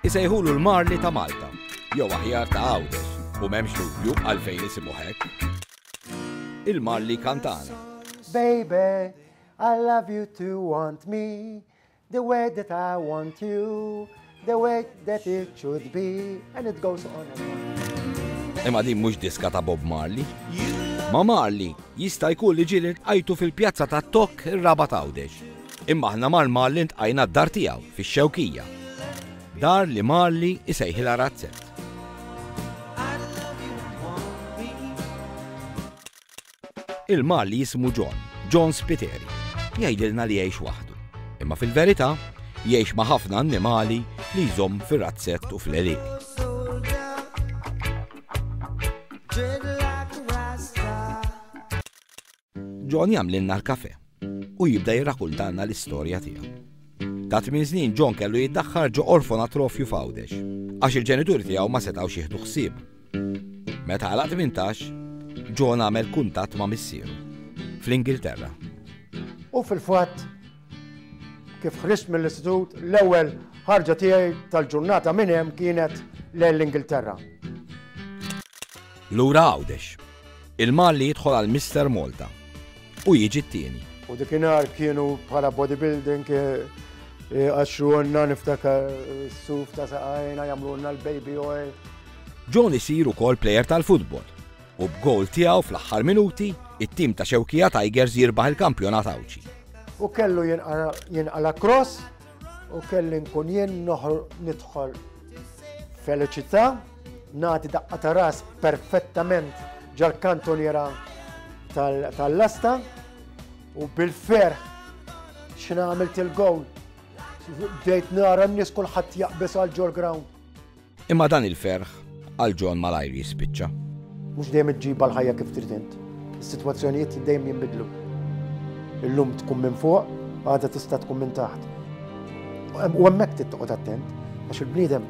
Isejħulu l-Marli ta' Malta, jew aħjar ta' Għawdex, u m'hemmx dubju għalfejn isimu hekk. Il-Marli Kantana. Baby, I love you to want me, the way that I want you, the way that it should be, and it goes on and on. Imma din mhux diska ta' Bob Marley. Ma Marley jista' jkun li ġieli għajtu fil-pjazza ta' Tok ir-raba' tawdex. Imma aħna mar Marli ntqajna d-dar tiegħu fix-Xewkija. Dar li Marli isejħilha razzett. Il-Marli jismu John, John Spiteri. Jgħidilna li jgħix waħdu. Imma fil-verità, jgħix ma' ħafna annimali li jżomm fir-razzett u fl-eliq. John jagħmlilna l-kafè u jibda jirrakuntalna l-istorja tiegħu. Ta' tmien snin John kellu jiddaħħar ġo orfonatrofju f'Għawdex għax il-ġenituri tiegħu ma setgħux jieħdu ħsieb. Meta għalaq tmintax, John għamel kuntatt ma' missieru fl-Ingilterra. U fil-fatt, kif ħriġt mill-istitut, l-ewwel ħarġa tiegħi tal-ġurnata minn hemm kienet lejn l-Ingilterra. Lura Għawdex. Il-Malli jidħol għal Mister Malta u jiġi t-tieni. U dikinhar kienu bħala bodybuilding għaxxuonna niftakar suf ta' saqajna jagħmlulna l-baby oil. John isir ukoll plejer tal-futbol u b'gowl tiegħu fl-aħħar minuti it-tim ta' Xewkija Tigers jirbaħ il-kampjonat Għawdxi. U kellu jinqala cross u kelli nkun jien nidħol feliċità. Nagħti daqqa ta' ras perfettament ġal-kantoniera tal-lasta u bil-ferħ xina għamilt il-gowl. Bdejt nara n-nis kullħat jaqbes għal ġol ground. Imma dan il-ferħ għal ġon malajr jispiċċa. Mux dejjem iġġiba l-ħajja kif tridint. Is-sitwazzjonijiet dejjem jinbidlu. Illum tkun minn fuq, għada tista' tkun minn taħt. U hemmhekk tittoqgħod attent għax il-bniedem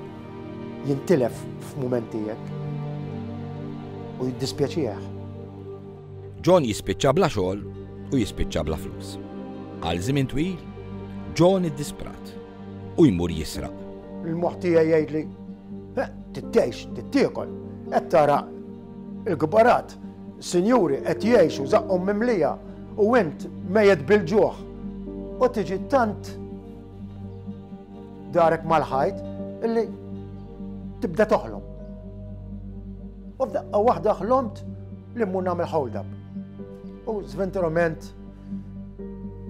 jintilef f'mumenti hekk u jiddispjaċih. John jispiċċa bla xogħol u jispiċċa bla flus. Għal żmien twil, John iddisprat u jmur jisraq. Il-moħħ tiegħi jgħidli, tittejx, tittiekol, qed tara il-kbarat, sinjuri qed jgħixu żaqqhom mimlija u int mejet bil-ġuħ. U tiġi tant Darek mal-ħajt illi tibda toħlom. U f'daqqa waħda ħlomt li mmur nagħmel hold up. U żventurament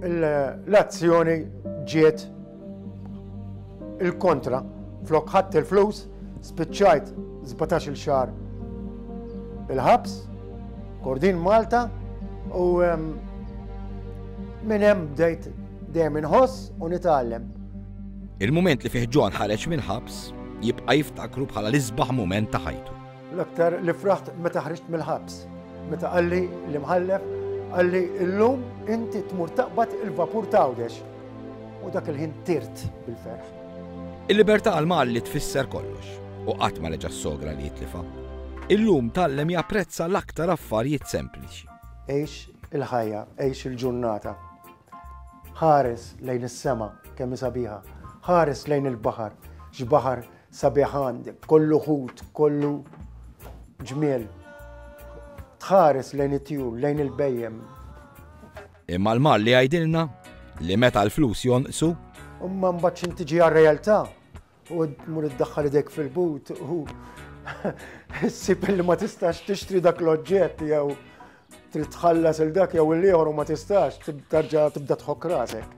l-azzjoni ġiet il-kontra flok ħadd il-flus Spiċċajt żbatax-il xahar il-ħabs, Kordin Malta, u minn hemm bdejt dejjem inħoss u nitgħallem. Il-mument li fih Ġon ħareġ minn ħabs jibqa' jiftakru bħala l-isbaħ mument ta' ħajtu. L-aktar li fraħt meta ħriġt mill-ħabs, meta qalli li mħallef qalli illum inti tmur taqbad il-vapur tawdex. U dak il-ħin tirt bil-ferħ. Il-libertà għal Malli tfisser kollox u qatt ma reġa' ssogra li jitlifha. Illum tgħallem japprezza l-aktar affarjiet sempliċi. Għix il-ħajja, għix il-ġurnata. Ħares lejn is-sema kemm hi sabiħa. Ħares lejn il-baħar, x'baħar sabiħ għandek, kollu ħut, kollu ġmiel. Tħares lejn it-tjur, lejn il-bejjem, Imma l-Malli jgħidilna li meta l-flus jonqsu. Imma mbagħad x'int tiġi għar-realtà u tmur iddaħħal idejk fil-but u ssib li ma tistax tixtri dak l-oġġett jew trid tħallas il dak jew il-ieħor u ma tistax tarġa' tibda tħokk rasek.